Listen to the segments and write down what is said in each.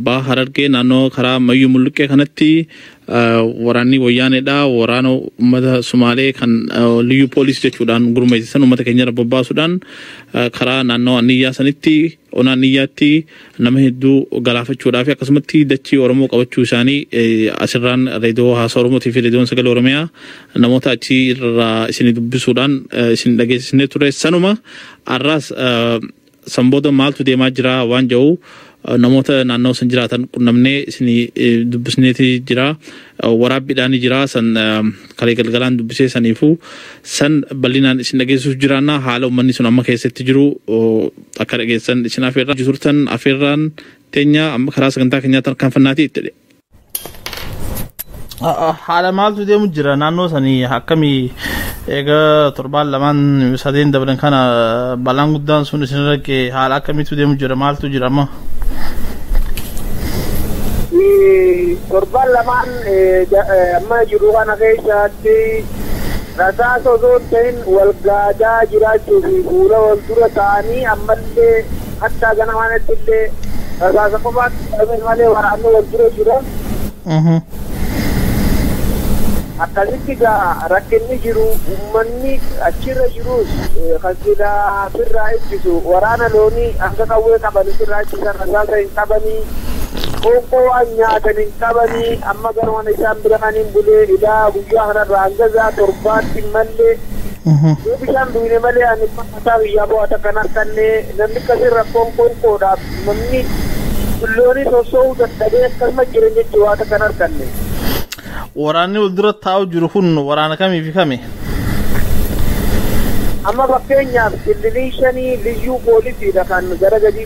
Baa Harargee naannoo karaa Mayyuu Mulluqqee kanatti waraanni wayyaaneedha. Waraana uummata Sumaalee kan liyyuu poolisii jechuudhaan gurmeessisan uummata keenyarra bobbaasuudhaan karaa naannoo Anniyyaa sanitti ona Anniyyaatti nama hedduu galaafachuudhaa fi akkasumatti dachii Oromoo qabachuu isaanii asirraan reediyoo haasaa Oromootii fi reediyoon sagalee Oromiyaa namoota achi irraa isin dubbisuudhaan isin dhageessisnee ture. Sanuma har'aas San booda maaltu deemaa jira waan jedhu namoota naannawa san jiraatan qunnamnee isinii eh, dubbisneeti jira. Eh, Waraabbiidhaan jira san eh, kalee galgalaan dubbisee saniifuu san bal'inaan isin dhageessisuuf jiraanna haala uummanni sun amma keessatti jiru oh, akka dhageessan isin afeerraa turtan afeerraan teenya amma karaa sagantaa keenyaa tarkaanfannaati itti haala maaltu deemu jira naannoo sanii akkamii egaa torbaan lamaan sadeen dabran kana balaan guddaan sun isin rakke haala akkamiitu deemu jira maaltu jira amma. Torbaan lamaan amma jiru kana keessatti rasaasa osoo hin ta'in wal gaadaa jiraachuu fi fuula wal dura ta'anii ammallee Hattaa ganamaanatti illee rasaasa qofaatti dhabeen malee waraanni wal dura jira. Akkasitti gaa rakkinni jiru uummanni achirra jirus kan silaa sirraa ittisu waraana loonii hanga qawwee qaban sirraa ittisan rasaasa hin qabanii qoonqoo waan nyaatan hin qabanii amma garuma isaan bira kan hin bulee ilaa guyyaa kanarraa hanga isaa torbaatti mallee yoo bishaan duwine malee ani Hataa biyyaa bo'aa takka hin arkanne, namni akkasii rakkoon qoonqoodhaaf namni billoonii sossoo'uu dadhabee akkasuma jira jechuun waa takka hin arkanne. Waraanni wal dura taa'u jiru kun waraana kamii fi kami? Amma fakkeenyaaf kililii shanii liyyuu poolisiidha kan gara gadii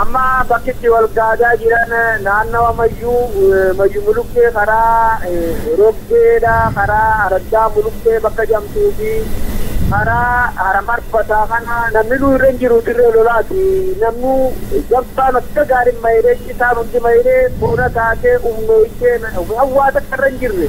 Amma bakki itti wal gaadaa jiran naannawa mayyuu eh, mayyu muluqqee karaa eh, roggeedha karaa araddaa muluqqee bakka jamtuu fi karaa haramarfataa kana namni nu irra hin jiru dirree lolaati namnu gamtaan akka gaariin mayiree cisaan hundi mayiree boona taatee umnooytee waan waa takka irra hin jirre.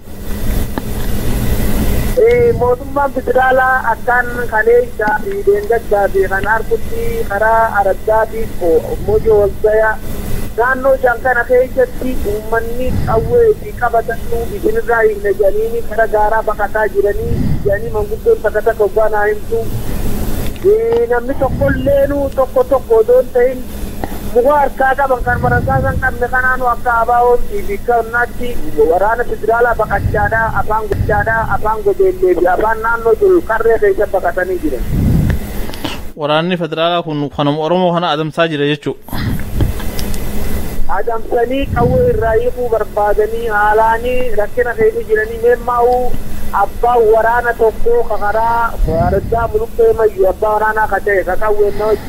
Mootummaan federaalaa akkaan kaleessaa fi dheengaddaa fi kan harkutti karaa araddaa fi mojo walgaya naannoo shan kana keessatti uummanni qawwee fi qabatannu isinirraa hiikna jedhanii gara gaaraa baqataa jiranii jedhanii manguddoon takka takka oggaa naa himtu namni tokkolleenu tokko tokko odoo hin ta'in Muka harkaa qaban kanuma rasaasa hin qabne kanaanu akka ABOn tiiviikanatti waraana federaalaa baqachaadha, afaan gochaadha, afaan gobeellee fi afaan naannoo jiru qarree keessa baqatanii jiran. Waraanni federaalaa kun kanuma Oromoo kana adamsaa jira jechuudha. Adamsanii qawwee irraa hiikuu barbaadanii haalaanii rakkina keessa jiranii meemmaa'u abbaan waraana tokkoo ka karaa Araddaa Muluqqee Mayyu abbaa waraanaa ka ta'e ka qawween na wajjin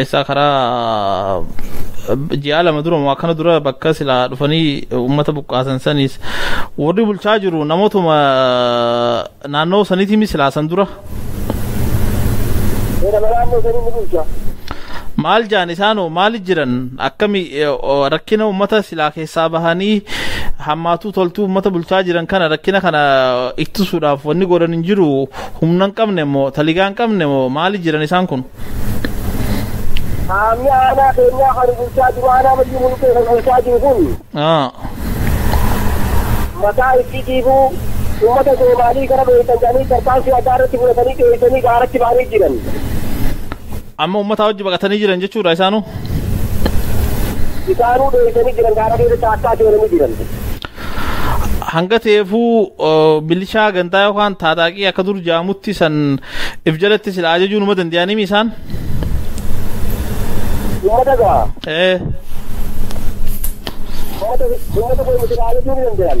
Eessaa karaa ji'a lama dura moo akkana dura bakka silaa dhufanii uummata buqqaasan saniis warri bulchaa jiru namootuma naannoo saniitii mi silaa san dura Seera naannoo sanii ni bulcha. maal jaan isaanoo maali jiran akkami eh, o- rakkina uummata silaa keessaa bahanii hammaatuu toltuu uummata bulchaa jiran kana rakkina kana ittisuudhaaf wanni godhan hin jiru Humna hin qabne moo taligaa hin qabne moo maali jiran isaan kun? Qaamni aanaa keenyaa kan bulchaa jiru aanaa mayyuu mulqee kan bulchaa jiru kun Aa. mataa itti dhiibuu uummata soomaalii kana dho'isan jedhanii tarkaanfii addaa irratti fudhatanii dho'isanii gaaratti ba'anii jiran. Amma uummataa wajji baqatanii jiran jechuudha isaanuu? Isaanuu dheessanii jiran gaara keessa caakkaa seenanii jiran. Hanga ta'eefuu milishaa gantaa yookaan taataaqii akka dur jaamutti san if jalatti sila ajajuu numa danda'animi isaan? Uummata gaa. Ee. Uummata uummata keenya sila ajajuu ni danda'an.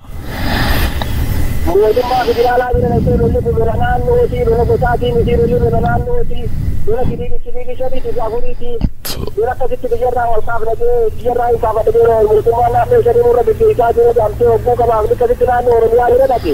Mootummaa federaalaa bira dhaqxee lolli kun lola naannootii, lola gosaatii mitii, lolli lola naannootii, lola kibiibii kibiibii shaniitii fi afuriitii, lola akkasitti biyyarraa wal kaafna jee, biyyarraa hin kaafadha jee mootummaan naannoo shanii nurra geggeessaa jira jedhamtee hogguu gabaafni akkasitti naannoo Oromiyaa bira dhaqe.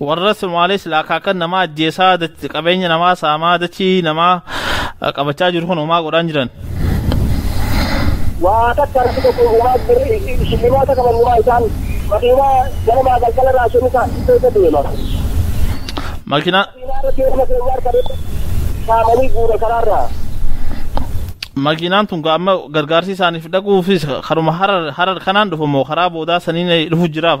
Warra Somaalee sila akaakan namaa ajjeesaa qabeenya namaa saamaa dachii namaa qabachaa jiru kun homaa godhaan jiran. Waa takka rabbi tokko uumaa birri shillimaa takka mannumaa isaan makiinaa ganamaa galgala irraa shanii isaa keessa deema. Makiinaa. Makiinaa irra deema keenya harkadee saamanii guura karaarraa. Makiinaan tun amma gargaarsi isaaniif dhaquufis karuma harar kanaan dhufu moo karaa boodaa saniin dhufu jiraaf.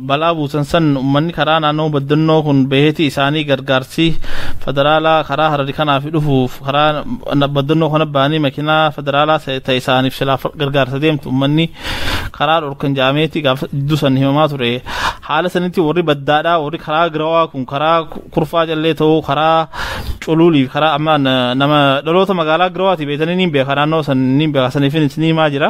balaa buusan san ummanni karaa naannoo baddannoo kun baheeti isaanii gargaarsi federaalaa karaa harari kanaafi dhufuuf karaa baddannoo kana bahanii makinaa federaalaa ta isaaniif silaa gargaarsa deemtu ummanni karaa dhorkan jaameeti gaaf jidduu san himamaa ture haala sanitti warri baddaadhaa warri karaa girawaa kun karaa kurfaa callee ta'uu karaa culuulii karaa amma nama dhaloota magaalaa girawaati beetanii niin beeka naannoo san niin beeka saniifin isinii himaa jira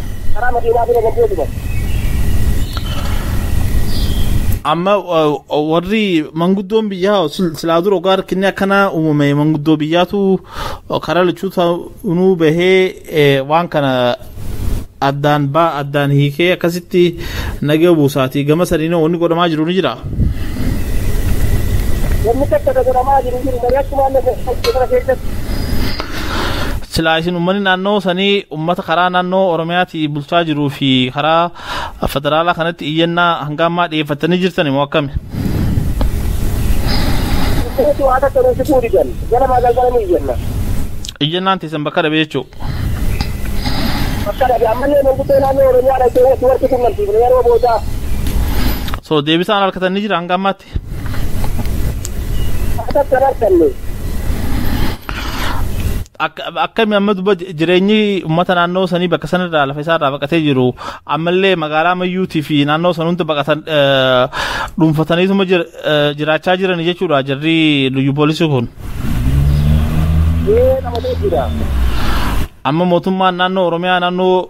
Karaa makiinaa bira darbee gubate. Amma warri manguddoon biyyaa silaa dura ogaa rakkinni akkanaa uumame manguddoo biyyaatu karaa lachuuta nuu bahee waan kana addaan baa addaan hiikee akkasitti nagee buusaatii gama saniin wanni godhamaa jiru ni jira. Wanni takka ta godhamaa jiru jiru mari'achumaan na keessatti. Silaa isin uummanni naannoo sanii Ummata karaa naannoo Oromiyaatii bulchaa jiruu fi karaa federaalaa kanatti iyyannaa hanga ammaa dhiyeeffattanii jirtani moo akkami? Kunis waan akka nuti fudhu didan. Ganamaa galgala ni iyyanna. Iyyannaan teessan bakka dhabe jechuu. Bakka dhabe ammallee manguddoo naannoo Oromiyaa dhaqee walitti qunnamsiifne yeroo boodaa. So deebisaan harkatan ni jira hanga ammaatti? Oromiyaatti. Akkami amma duba jireenyi uummata naannoo sanii bakka sanarraa lafa isaarraa baqatee jiru ammallee magaalaa mayyuutii fi naannoo san hunda baqatan dhuunfataniituma jiraachaa jiran jechuudha jarri luyyu poolisii kun. Amma mootummaan naannoo Oromiyaa naannoo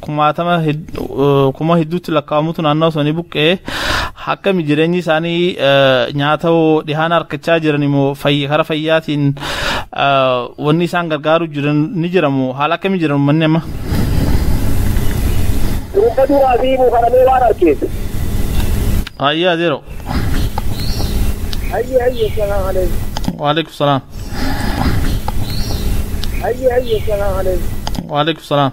kumaatama kuma hedduutti lakkaa'amutu naannoo sanii buqqee akkami jireenyi isaanii nyaata dhihaan harkachaa jiran immoo kara fayyaatiin wanni isaan gargaaru jiran ni jiramu haala akkami jiran uummanni amma. Dhuunfa duraa fi buufaramee waan arkeef. Ayyaa adeero. Ayyi ayyi salaam alaikum. Waalaikum salaam. Ayyi ayyi salaam alaikum. Waalaikum salaam.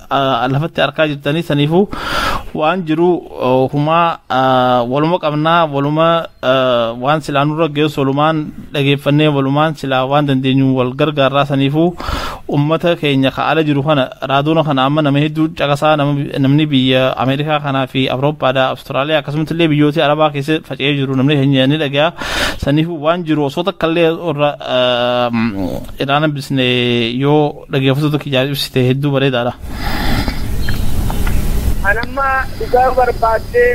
lafatti arkaa jirtanii saniifuu waan jiru humaa waluma qabnaa waluma waan silaa nurra geessu walumaan dhageeffannee walumaan silaa waan dandeenyu wal gargaarraa saniifuu ummata keenya ka ala jiru kana raadoona kana amma nama hedduu caqasaa namni biyya ameerikaa kanaa fi awurooppaadha awustiraaliyaa akkasumas illee biyyoota arabaa keessa faca'ee jiru namni keenya ni dhaga'a saniifuu waan jiru osoo takka illee irra irraa nambisne yoo Dhaggeeffattoota kiyyaaf ibsite hedduu bareedaadha. An amma dhugaa barbaaddee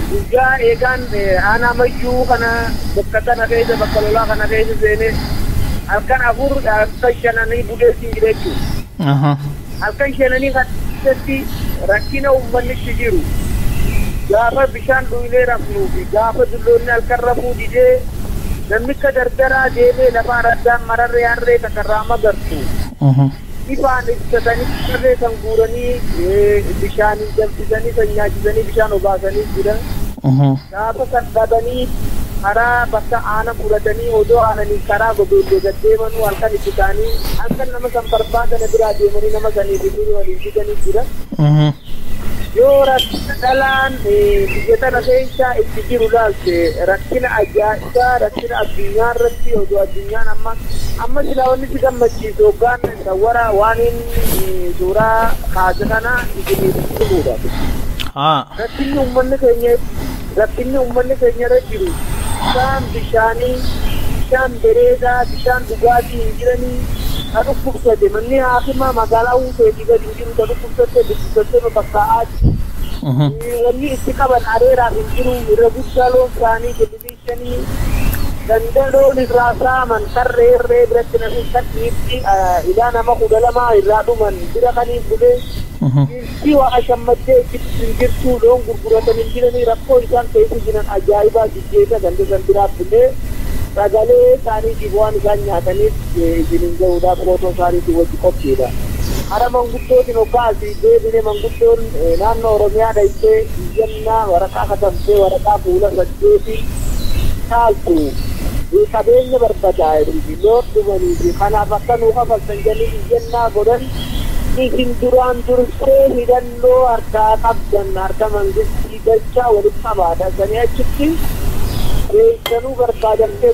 guyyaa eegaan aanaa mayyuu kana bakka kana keessa bakka lolaa kana keessa seenee halkan afur halkan shananii bulee siin jira jechuudha. Halkan shenanii kana keessatti rakkina uummanni itti jiru gaafa bishaan dhugnee rafnuu fi gaafa dulloonni halkan rafuu didee namni akka dardaraa deemee lafa araddaan mararree harree takka irraa magartu ifaan ibsatanii harree san guuranii bishaaniin danfisanii san nyaachisanii bishaan obaasanii jiran. Gaafa san dhabanii karaa bakka aanan fudhatanii odoo aananiin karaa gobeellee gad deemanuu halkan itti ka'anii halkan nama san barbaadana biraa deemanii nama sanii fi durii waliin fidanii jiran. Yoo rakkina dhalaan biyya tana keessa itti jiru laalte rakkina ajaa'ibaa rakkina addunyaa irratti odoo addunyaan amma amma silaa wanni si gammachiisu hoggaan sawwara waaniin suuraa kaase kana isiniif himuudhaaf. Rakkinni ummanni keenya rakkinni ummanni keenya irra jiru bishaan bishaanii bishaan bereedaa bishaan dhugaatii hin jiranii ta dhukkubsate manni haakimaa magaalaa huuteetii gad hin jiru ta dhukkubsatte dhukkubsatteema bakkaa aatti wanni itti qaban areeraaf hin jiru irra guddaa loon saanii Halkanii ganda loon irraa saaman tarree irree biratti namni kadhiitti ilaa nama kudha lamaa irraa dhuman bira kaniin bulee dhiirtii waa shammaddee itti dhuftu hin jirtuu loon gurguratan hin jiranii rakkoo isaan keessa jiran ajaa'ibaa jijjeessa ganda san biraa bulee sagalee isaaniitiif waan isaan nyaataniif isin hin gahuudhaaf footoo isaaniitiin wajji qophiidha. Hara manguddootiin hoggaa asii deebine manguddoon naannoo Oromiyaa dhayxee Xiqqaa waraqaa katabdee waraqaa fuula saddeetii caaltu qabeenya barbadaa'ee fi loon dhumanii fi kanaaf akka nuu kafaltan jedhanii iyyannaa godhan isin duraan dursee hidhannoo harkaa qabdan harka mangistii galchaa walitti qabaadha sanii achitti deebisanii barbaadamtee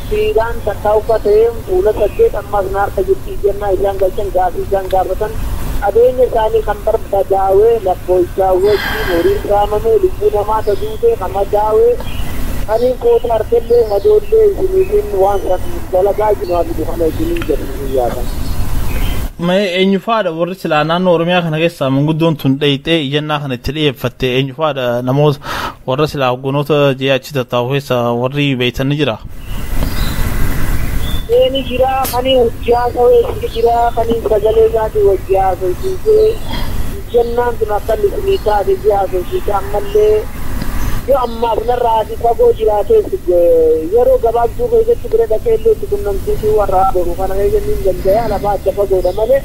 Siidaan takkaa ukkatee fuula saddeet ammaas naarsa jirti iyyannaa isaan galchan gaafii isaan gaafatan qabeenya isaanii kan barbadaawe lakkooysaa wajjiin horiin saamamee lubbuu namaa ta duutee ka madaawe kaniin foota arkellee madoollee isiniitiin waan san dalagaa jinu haa fidu kana isiniin jedhu guyyaa san. Mee eenyufaadha warri silaa naannoo Oromiyaa kana keessaa manguddoon tun dheeyxee iyyannaa kana itti dhiyeeffatte eenyufaadha namoota Warra silaa hogganoota jee achi tattaa'u keessa warri beektan ni jira. Ee ni jira kanii wajji haasawee ni jira kanii sagalee isaatii wajji haasofsiisee jennaan sun akka lisinii taate jee haasofsiise ammallee yoo ammaaf narraa ati fagoo jiraatees yeroo gabaabduu keessatti bira dhaqee illee itti qunnamsiisuu warraa boru kana keessa ni danda'a lafaa adda fagoodha malee.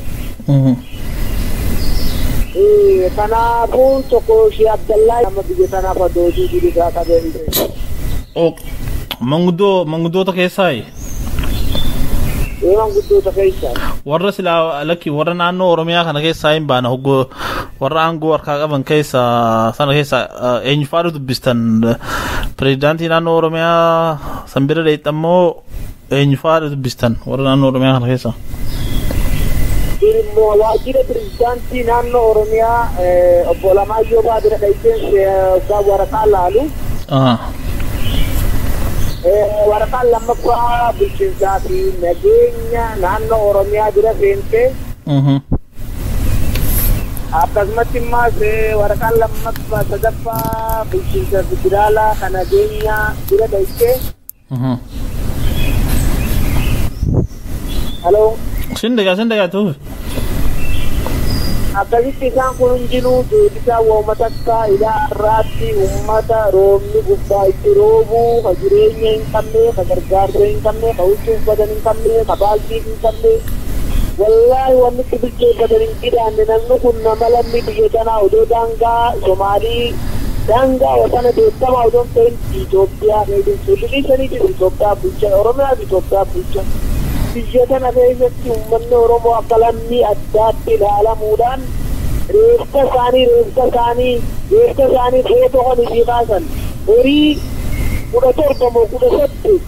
Kanaafuu tokko Shee Abdallaa nama biyya sanaaf adoojii bilisaa qabeen Manguddoo manguddoota keessaayi. Eeman guddoota keessaa. Warra silaa lakki warra naannoo Oromiyaa kana keessaa hin baana hoggoo warra aangoo harkaa qaban keessaa sana keessaa eenyufaadhu dubbistan pirezidaantii naannoo Oromiyaa san bira deettammoo Eenyu fa'aadha dubbistan warra naannoo Oromiyaa kana keessa? Dhimma waajjira pirezidaantii naannoo Oromiyaa obbo Alamaayyoo Baa bira dhaqeen hoggaa waraqaa laalu. Waraqaan lammaffaa bulchiinsaa fi nageenya naannoo Oromiyaa bira seentee. Akkasumatti immaas waraqaan lammaffaa sadaffaa bulchiinsa federaalaa kan nageenyaa bira dhaqee. Haloo Sin dhagaa sin dhagaa tuuf. akkasitti isaan kun hundinuu deebisaa waa'uma takkaa ilaa har'aatti uummata roobni gubbaa itti roobu ka jireenya hin qabne ka gargaarsa hin qabne ka huccuu uffatan hin qabne ka baaltii hin qabne wallaahi wanni itti bilcheeffatan hin jidaanne namni kun nama lammii biyya tanaa odoo daangaa somaalii daangaa wasana beekamaa odoo hin ta'in Itoophiyaa keessa solution sanii jiru Itoophiyaa bulchan Oromiyaa fi Itoophiyaa bulchan biyya tana keessatti uummanni Oromoo akka lammii addaatti ilaalamuudhaan reeffa isaanii reeffa isaanii reeffa isaanii footoo kan itti kaasan horii kudha torba moo kudha saddeet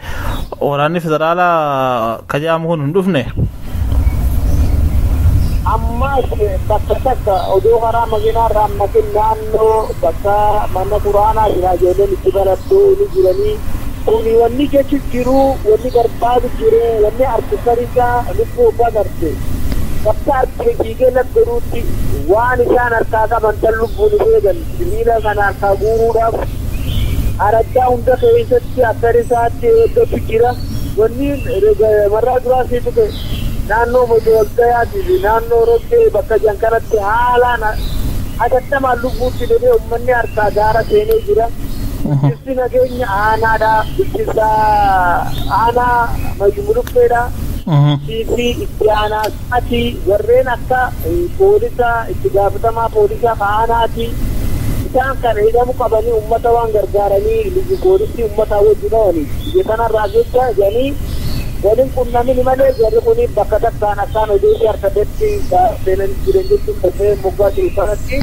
Waraanni federaalaa ka jedhamu kun hin dhufne. Ammaas bakka takka odoo karaa makiinaa irraa hammatin naannoo bakka mana quraanaa jira ijoolleen itti barattu ni jiranii. Kuni wanni jechu jiru wanni barbaadu jiru wanni arku sarisa lubbuu obbaa garte. Bakka argine fiigee laf godhuutti waan isaan harkaa qaban tan lubbuun hin eegan sibiila kana harkaa guuruudhaaf araddaa hunda keessatti Ati akka risaatti eeggatu jira. Wanni marraa duraa sii tuqe naannoo Mojo Walgayaatii fi naannoo Roggee bakka jiran kanatti haalaan hatattamaan lubbuutti deebi'ee ummanni harkaa gaara seenee jira. Bulchiinsi nageenya aanaadha. Bulchiinsa aanaa Mayyuu Muluqqeedha. Bulchiinsi itti aanaa. Ati warreen akka poolisa itti gaafatamaa poolisa ka aanaati isaan kana hidhamu qabani ummata waan gargaarani liyyu poolisii ummataa wajji dhawani biyya tanarraa jecha jedhani wal hin qunnamini malee jarri kuni bakka takkaan akkaan odeessi arkatetti seenani jiran jechuun dhaga'e moggaa jiru kanatti.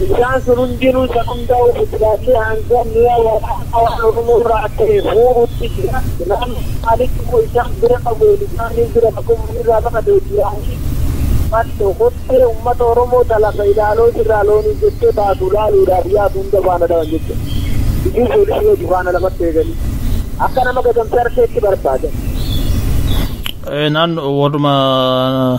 Isaan sun hundinuu isa qundaa'uu fi silaallee hanga mi'a waraanaa waan Oromoo irraa ta'e fuudhuutti jira. Naannoo Somaaliitti immoo isaan bira qawween isaanii jira bakka uummanni irraa baqate Wajjiraanis Matto kottee uummata Oromoo ta lafa ilaaloo sirraa loonii jettee baatu laaluudhaaf yaatu hunda faana dhawan jechuudha. Liyyuu poolisii wajji faana lafatti eeganii akka nama gatamsee harkeetti barbaadan. Naannoo warruma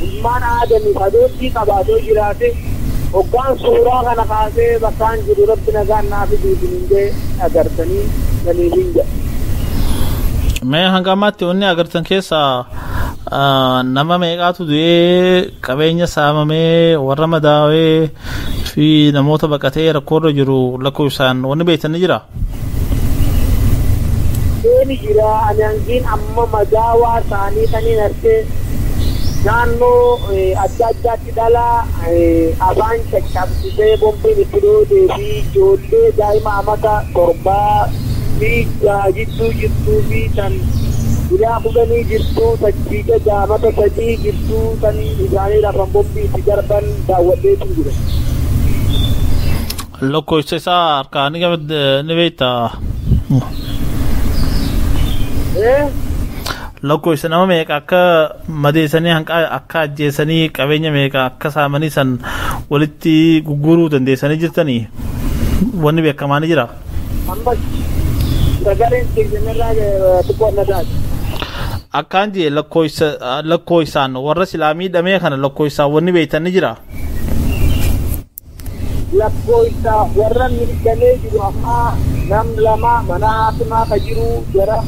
Ilmaan Aadamiif adoottii qabaa yoo jiraate, hoggaan suuraa kana kaasee bakkaan jiru Rabbi nagaan naa fidi isiniin jee agartanii saniif hin jedha. Mee hanga ammaatti wanni agartan keessaa nama meeqaatu du'ee qabeenya saamamee warra madaawee fi namoota baqatee rakkoorra jiru lakkoofsaan wanni beektan ni jira? Deemi jira ani hangiin amma madaawaa saanii taniin argee naannoo adda addaatti dhala afaan caccabsisee bombiin itti dhoodee fi ijoollee daa'ima amata torbaa fi jaha jidduu jirtuu fi tan guyyaa kudhanii jirtuu tajjii jaja amata sadii jirtuu tan isaanii rafan bombii itti darban daawwadheetiin jira. Lakkoofsa isaa harkaa ni qabd ni beekta. Ee? Lakkoofsa nama meeqa akka madeessanii hanqa akka ajjeesanii qabeenya meeqa akka saamanii san walitti gurguruu dandeessanii jirtanii wanni beekamaa ni jira. Ammas sagaleen keessanirraa xiqqoo na taate. Akkaan jee lakkoofsa lakkoofsaan warra silaa miidhamee kana lakkoofsaan wanni beektan ni jira. Lakkoofsa warra miidhamee jiru ammaa nam lama mana hakimaa ka jiru jara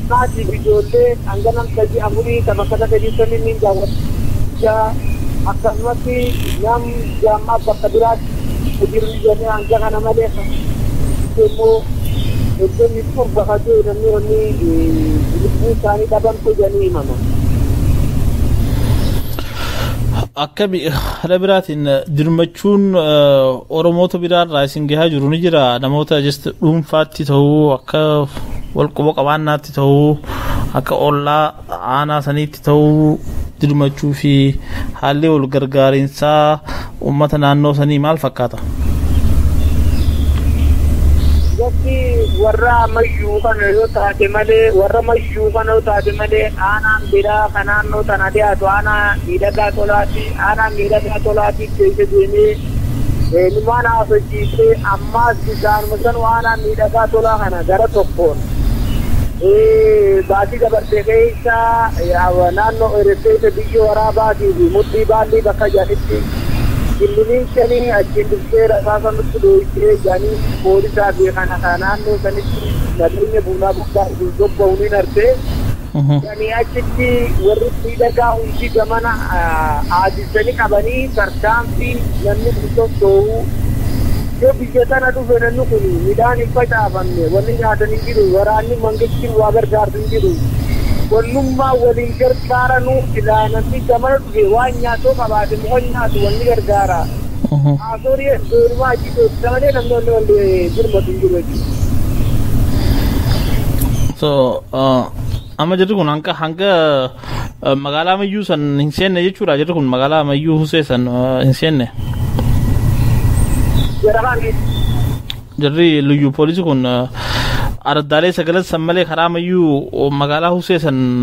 maatiif ijoollee hanga nam sadii afurii ka bakka takka jirtan inni daawwacha akkasumas nam jaammaa bakka biraatti ka jiru jedhanii hanga kana malee immoo soddomii torba ka ta'e namni wanni lubbuu isaanii dhaban jedhanii himama. akkami haala biraatiin dirmachuun oromoota biraarraa isin gahaa jiru ni jira namoota just dhuunfaatti ta'uu akka walquba qabaannaatti ta'uu akka ollaa aanaa saniitti ta'uu dirmachuu fi haalli wal gargaarinsaa Uummata naannoo sanii maal fakkaata? Gosti warra Mayyuu kana yoo taate malee warra Mayyuu kana yoo taate malee aanaan biraa kan naannoo tana dhiyaatu aanaa Miidhagaa Tolaati. Aanaa Miidhagaa Tolaati keessa deemee numaan haasofsiisee ammaas isaanuma sanuu aanaa Miidhagaa Tolaa kana gara tokkoon Baatii dabartee keessa naannoo Eresseessa biyyoo waraabaatii fi mudhii baallii bakka jedhanitti killinii shanii achiin dhuftee rasaasa nutti dhooytee jedhanii poolisaa fi kana naannoo sanitti nageenya buunaa gubbaa hin sobba'uun hin artee. Sanii achitti warri miidhagaa hundi gamana aadissanii qabanii tarkaanfii namni kun sossoo'u yoo biyya tana dhufe namni kun midhaan hin facaafamne wanni nyaatan hin jiru waraanni mangistiin waa gargaarsu hin jiru wannummaa waliin gargaaranuu silaa namni gamana dhufe waan nyaatoo qabaate muka nyaatu wanni gargaara haasorii eddoonumaa achi teessisa malee namni wanni wanni birmatu hin jiru jechuudha. So Amma jirri kun hanga hanga magaalaa ammayyuu san hin seenne jechuudha jirri kun magaalaa ammayyuu husee san hin seenne. Jirri luyyu poolisii kun araddaalee sagalan san malee karaa ammayyuu magaalaa husee san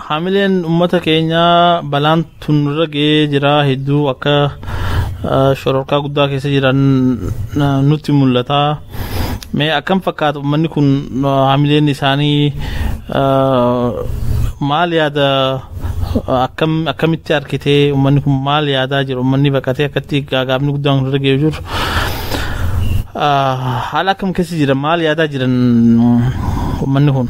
Haamileen ummata keenyaa balaan tun irra ga'ee jira hedduu akka shororkaa guddaa keessa jiran nutti mul'ata. Mee akkam fakkaata ummanni kun haamileen isaanii maal yaada akkam akkamitti argitee ummanni kun maal yaadaa jiru ummanni baqatee akkatti gaagaabni guddaan irra ga'ee jiru. Haala akkam keessa jira maal yaadaa jiran ummanni kun?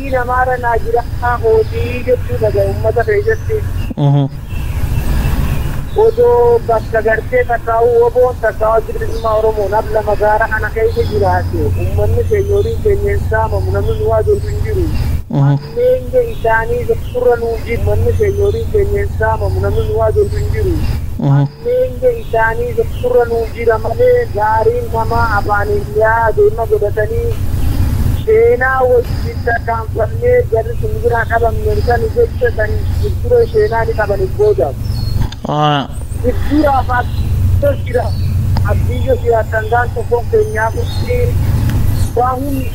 Maatii namaarra naa jiraa kootii jechuu dhaga ummata keessatti. Odoo bakka gartee takkaa'uu woboon takkaa addi bilisummaa Oromoon abla magaala kana keessa jiraate ummanni keenya horiin keenya hin saamamu namni nu haadootu hin jiru. Hammeenya isaanii beekurra nuu jiru ummanni keenya horiin keenya hin saamamu namni nu haadootu hin jiru. Eeyyee isaanii tokkorra nuu jira malee gaariin namaa afaaniin yaade ma godhatanii sheenaa wajjin tarkaanfannee jarri sun nu biraa dhabamne sani jecha san jijjiroo sheenaa ni qabaniif boodaaf. Jijjiraaf abdiyyoo jira abdiyyoo jiraattan gaan tokkoon keenyaaf waa hunda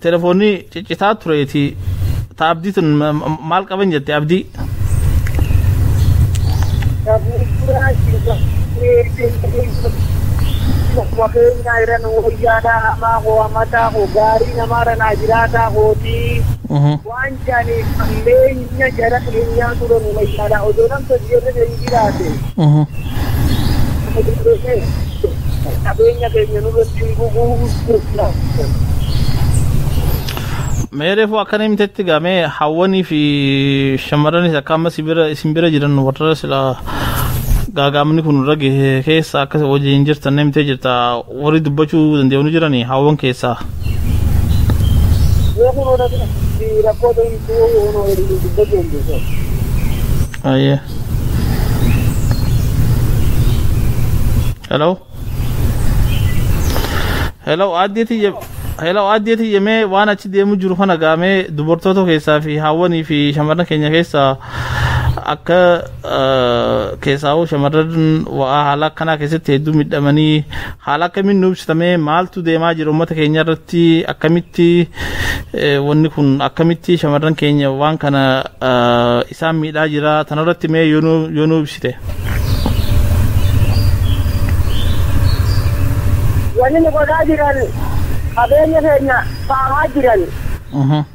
Telefoonni ciccitaa tureeti. Ta abdii tun maal qaban jette abdii? Mafeenyaa iran wayyaadhaa hamaa koo hamataa koo gaarii namaara naa jiraataa kootii. Waan jaaniif hammeenya jara keenyaa dura nu wayyaanaa odoo nam sosjeerre hin jiraate qabeenya keenya nurratti hin gubuu Mee reefu akkan himtetti gamee hawwanii fi shamarranis akka amma si bira isin bira jiran warra sila gaagaamni kun irra gahe keessa akka wajjin jirtan himtee jirta Warri dubbachuu danda'u ni jirani haawwan keessaa. Yoo kun oda si rakkoo ta'intu ono dubbachuu hin beeku. Ayyee. Hello. Hello aaddee tiyya. Hello aaddee tiyya mee waan achi deemu jiru kana gaamee dubartoota keessaa fi haawwanii fi shamarran keenya keessaa akka keessaawuu shamarran wa'aa haala akkanaa keessatti hedduu midhamanii haala akkamiin nu ibsitamee maaltu deemaa jira uummata keenya irratti akkamitti wanni kun akkamitti shamarran keenya waan kana isaan miidhaa jira tanarratti mee yoo nu ibsite. Wanni nu godhaa jiran qabeenya keenya saamaa jiran.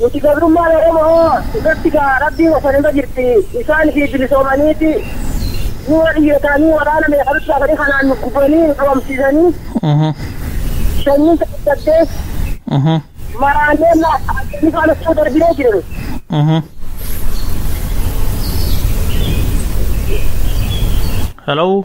Nuti gabrummaan Oromo'oo irratti ka Rabbiin oofan irra jirti, isaan ifii bilisoomanii ti, nu'oo dhiirotaanii waraana meeqa nutti baasanii kanaan nu gubanii, nu dhoomsiisanii, shanyiin ta dadhabdees maraannee laaffaannee faana osoo darbinee jira nuti. Hello?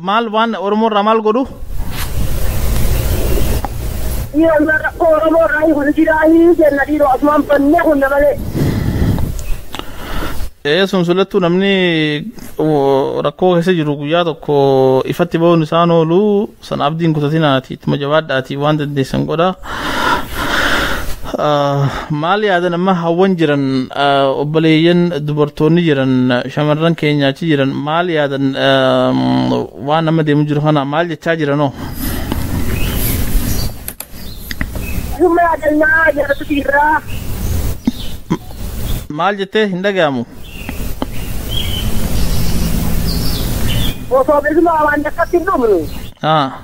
Maal waan Oromoo irraa maal godhu? Dhiiroo ilmaan rakkoo Oromoo irraa hiiku ni jiraa hii jenna dhiiroo asumaan bannee kunna malee. Ee sun sulattuu namni wo- rakkoo keessa jiru guyyaa tokko ifatti ba'uun isaan oolu san abdiin kutatinaatii ittuma jabaadhaatii waan dandeessan godhaa. maal yaadan amma hawwan jiran obboleeyyan dubartoonni jiran shamarran keenya achi jiran maal yaadan waan amma deemu jiru kana maal jechaa jiranoo Dhuma yaadannaa yaadatu jirra. maal jettee hin dhaga'amu Osoo bilisummaa waan takkatti hin dhumnu. Ah.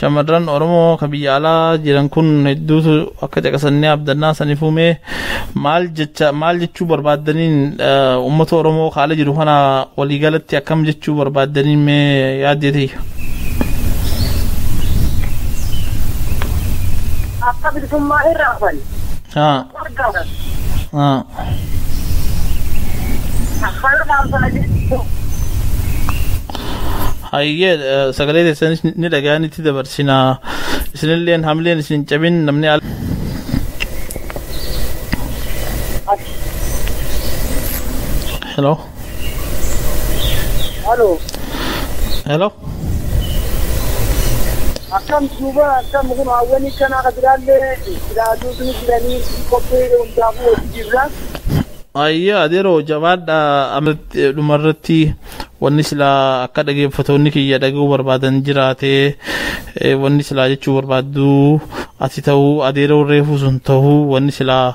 Shamarran Oromoo ka biyya alaa jiran kun hedduutu akka caqasannee abdannaa saniif uume maal jecha maal jechuu barbaaddaniin uummata Oromoo ka ala jiru kana waliigalatti akkam jechuu barbaaddaniin mee yaaddee tiyya. Akka bilisummaa irraa hafan. Haa. hayyee sagalee teessanis ni dhaga'an itti dabarsina isinilleen hamileen isin cabin namni al hello Halo. Hello. Akkam duuba akkam kun hawwanii kanaa ka biraallee ilaaluu sun jiranii qophii hundaafuu hojii jirra. Ayya adeeroo jabaadha amatti dhumarratti wanni silaa akka dhageeffattoonni kiyya dhaga'uu barbaadan jiraate eh, wanni silaa jechuu barbaaddu ati ta'uu adeeroo reefuu sun ta'uu wanni silaa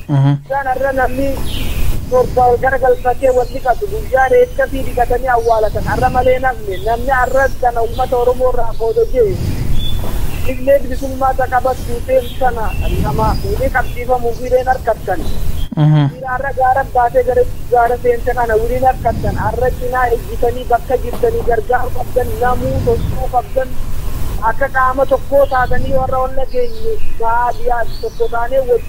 Guyyaan har'a namni torba wal garagalfatee wal dhiqatu, guyyaa reeffafii dhiqatanii awwaalatan har'a malee hin hafne. Namni har'a tana ummata Oromoo irraa qooda je'e, Killee Bilisummaa ta qabattuu teemtu tana lama wiliin qabsiifamuu fi reen harkattan. Dhiira har'a gaara baatee gara gaara seente kana wiliin harkattan. Har'a cinaa ejjitanii bakka jirtanii gargaaruu qabdan, namuu sossoo'uu qabdan. Akka qaama tokkoo taatanii yoo har'a ol dhageenye baadiyaas tokko taanee wajji.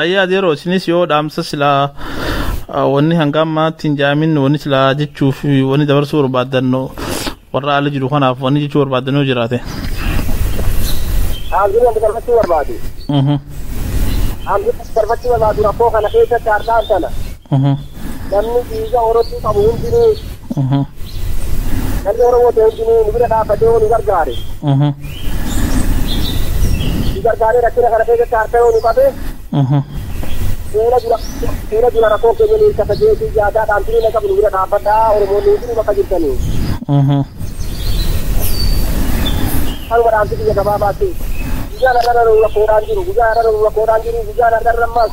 Ayyaa yeroo isinis yoo dhaamsa silaa ah, wanni hanga ammaatti hin jaamin wanni silaa jechuuf wanni dabarsuu barbaaddan warra ala jiru kanaaf wanni jechuu barbaaddan yoo jiraate. Dhaamsiin wanti darbachuu barbaadu. Mhm, Dhaamsiin wanti darbachuu barbaadu rakkoo kana keessatti har'aan sana. mhm. Namni dhiiga Oromoo qabu hundinuu Mhm. namni Oromoo ta'e hundinuu nu bira dhaabbatee yoo nu gargaare Mhm. nu gargaaree rakkina kana keessatti harka yoo nu qabe Mhm. fuula dura fuula dura rakkoo keenya nu hirkata jeetii yaadaa dhaamsinii na qabu nu bira dhaabbadhaa Oromoonni hundinuu bakka jirtanii Mhm. kanuma dhaamsi biyya gabaabaatti. Guyyaan har'a nu rakkoodhaan jiru, guyyaan har'a nu rakkoodhaan jiru, guyyaan har'a ammas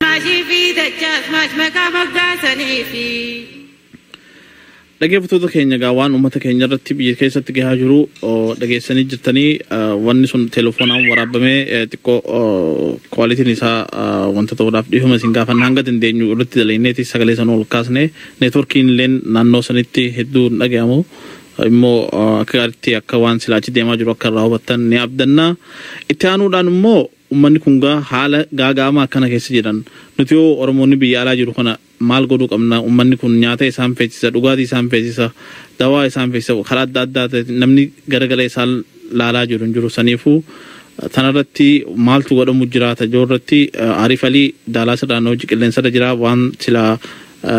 Maashii fi dachaas maash maqaa moggaasanii fi. Dhageeffattoota keenya egaa waan uummata keenya irratti biyya keessatti gahaa jiru oo, dhageessanii jirtanii ah, wanni sun telefoonaan waraabamee eh, xiqqoo oh, kwaalitiin isaa ah, wanta ta'uudhaaf dhiifama isin gaafanna hanga dandeenyu irratti dalagneeti sagalee sana ol kaasne neetworkiin illeen naannoo sanitti hedduu hin dhagahamu immoo ah, akka gaariitti akka waan silaachi deemaa jiru akka irraa hubattan ni abdanna itti aanuudhaan immoo Ummanni kun gaa haala gaaga'amaa akkana keessa jiran nuti hoo Oromoonni biyya alaa jiru kana maal godhuu qabna? Ummanni kun nyaata isaan feesisa, dhugaatii isaan feesisa, dawaa isaan feesisa, karaa adda addaatiin namni garagalee isaan laalaa jiru hin jiru. Saniifuu tanarratti maaltu godhamu jiraata yoo irratti Arif Ali Daalaas irraa nu wajji qilleensarra jira waan sila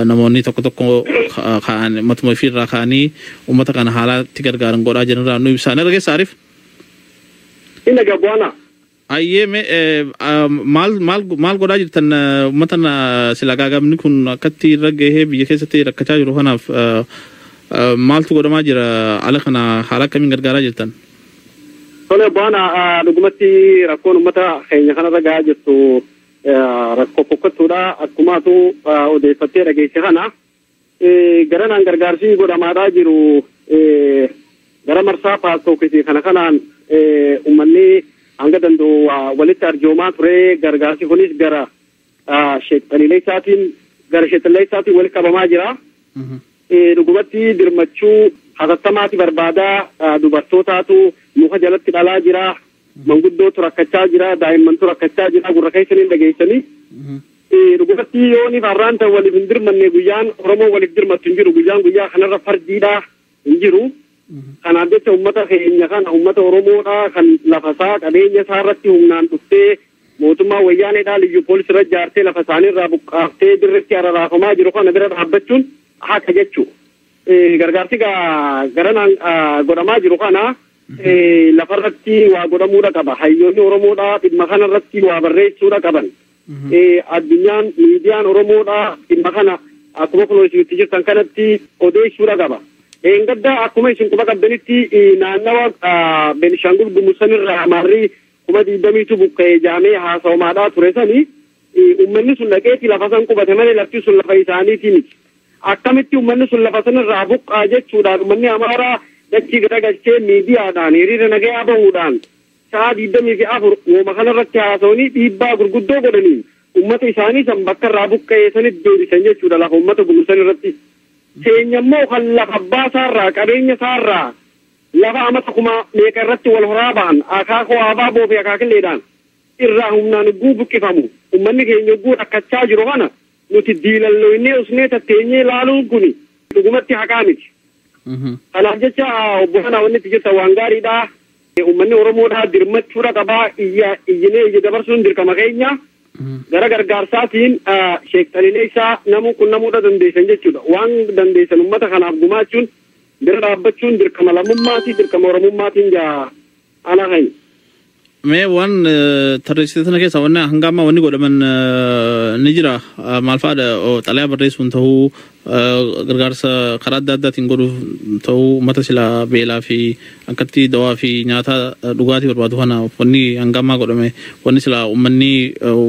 namoonni tokko tokko ka'an matuma ifii irraa ka'anii ummata kana haalaa itti gargaaran godhaa jiran irraa nu ibsaa. Na dhageessa Arif? Ina gabuana. Ayyee mee eh, ah, maal maal maal godhaa jirtan eh, uummata na- sila gaagamni kun akkatti irra gahee biyya keessatti rakkachaa jiru kanaaf eh, eh, maaltu godhamaa jira ala kana haala akkamiin gargaaraa jirtan? Tole buana dhugumatti rakkoon uummata keenya kanarra gahaa jirtu eh, rakkoo fokkattuudha akkumaatu eh, odeeffattee dhageesse kana. Garanaan gargaarsi godhamaadhaa jiru gara marsaa paastookisii kana kanaan uummanni hanga danda'u walitti arjoomaa ture gargaarsi kunis gara sheexxanileessaatiin gara sheexxanileessaatiin walitti qabamaa jira. Dhugumatti dirmachuu hatattamaati barbaadaa dubartootaatu muka jalatti dhalaa jira Manguddootu rakkachaa jira, daa'immantu rakkachaa jira, gurra keessaniin dhageessanii. Dhugumatti yooniif har'aan tan waliif hin dirmanne guyyaan Oromoo waliif dirmattu hin jiru. Guyyaan guyyaa kanarra fardiidha hin jiru. Kanaaf jecha uummata keenya kana uummata Oromoodha kan lafasaa qabeenya isaa irratti humnaan dhuftee mootummaa wayyaaneedhaa liyyuu poolisii irra jaartee lafa isaanii irraa buqqaaftee dirreetti araraafamaa jiru kana bira dhaabbachuun haqa jechuudha. Gargaarsi garanaan godhamaa jiru kana lafarratti waa godhamuudha qaba. Hayyoonni Oromoodhaa dhimma kanarratti waa barreessuudha qaban. Addunyaan miidiyaan Oromoodhaa dhimma kana akkuma kunoo isin itti jirtan kanatti odeessuudha qaba. Gaddaa akkuma isin quba qabdanitti naannawa Beenishaangul Gumuz sanirraa Amaarri kuma digdamiitu buqqa'e jedhamee haasawamaadhaa ture sani ummanni sun dhaqeeti lafa san qubate malee lafti sun lafa isaaniitii miti. Akkamitti ummanni sun lafa sanarraa buqqaa jechuudhaan ummanni Amaaraa dachii garagalchee miidiyaadhaan hiriira nagayaa bahuudhaan sa'a digdamii fi afur wooma kanarratti haasawanii dhiibbaa gurguddoo godhaniin ummata isaanii san bakkarraa buqqa'ee sanitti deebisan jechuudha lafa ummata gumursan irratti. Keenya immoo kan lafa abbaa isaarraa qabeenya isaarraa Lafa amata kuma meeqa irratti wal horaa bahan, akaakoo abaaboo fi akaakilleedhaan irraa humnaan yogguu buqqifamu, ummanni keenya yogguu rakkachaa jiru kana nuti diilalloynee usnee tatteenyee laaluun kuni dhugumatti haqaa miti. Kanaaf jecha obbolana wanni itti jettan waan gaariidha. Ummanni Oromoodhaa dirmachuudha qaba. Iyya iyyinee iyya dabarsuun dirqama keenya. Gara gargaarsaatiin Sheek Xalileessaa namuu qunnamuudha dandeessan jechuudha. Waan dandeessan ummata kanaaf gumaachuun Bira dhaabbachuun dirqama lammummaatii dirqama oromummaatiin jaa ala hayi. Mee waan tarreessite sana keessaa wanni hanga ammaa wanni godhaman ni jira maal fa'aadha xalayaa barreessuun ta'uu gargaarsa karaa adda addaatiin godhuuf ta'uu uummata silaa beelaa fi akkatti dawaa fi nyaataa dhugaatii barbaadu kana wanni hanga ammaa godhame wanni silaa uummanni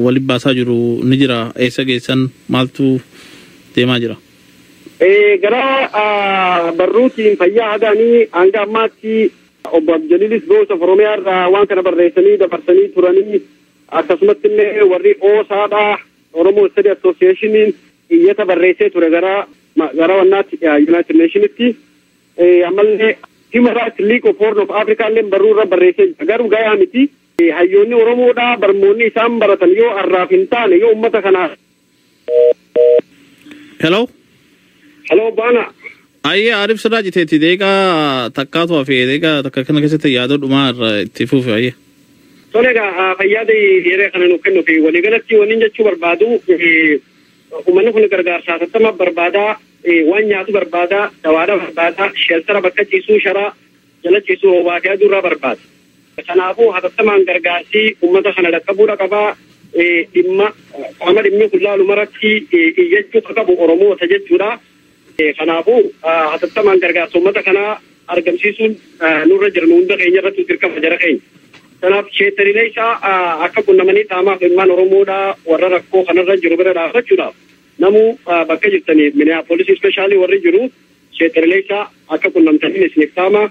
waliin baasaa jiru ni jira eessa geessan maaltu deemaa jira. Gara barruutiin fayyaa hagaanii hanga ammaatti obbo Abdijaliilis Boosa Oromiyaa irraa waan kana barreessanii dabarsanii turanii akkasumatti illee warri Oosaadhaa Oromoo Istadi Asooseeshiniin iyyata barreessee ture gara gara wannaatti Yuunaayitid Neeshinitti ammallee Human Rights League of Horn of Africa illee barruu irra barreessee jira garuu gayaa miti hayyoonni Oromoodhaa barmoonni isaan baratan yoo arraaf hin taane yoo uummata kanaa Hello? Hello, Bana. Ayyee Arif sirraa citeetti deeqaa takkaatu hafe deeqaa takka kana keessatti yaadoo dhumaa irra itti fufe ayyee. Tole egaa fayyaada yeroo kana nuuf kennu fi waliigalatti wanni jechuu barbaadu uummanni kun gargaarsa hatattamaa barbaada waan nyaatu barbaada dawaadha barbaada sheeltara bakka ciisuu sharaa Calaqqisuu roobaa fi aduu irraa barbaada. Kanaafuu hatattamaan gargaarsi uummata kana dhaqqabuudha qaba. Dhimma qaama dhimmi kun laalu maratti iyyachuu kan qabu Oromoota jechuudha. Kanaafuu hatattamaan gargaarsa uummata kanaa argamsiisuun nurra jira nu hunda keenya irratti dirqama jara keenya. Kanaaf sheettariilee isaa akka qunnamanii qaamaaf ilmaan Oromoodha warra rakkoo kanarra jiru bira dhaabbachuudhaaf namuu bakka jirtanii Minneapolis ispeeshaalii warri jiru Sheek Qananiisaa, Akka qunnamtaniin isiniif dhaama.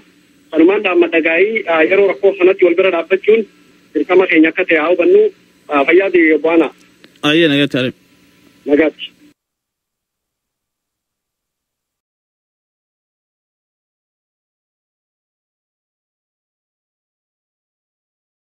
Sanumaan dhaammadha gaaii yeroo rakkoo kanatti wal bira dhaabbachuun dirqama keenya akka ta'e haa hubannu. Fayyaa ta'ii Obbo Aanaa. Ayyee nagaatti Arib. Nagaatti.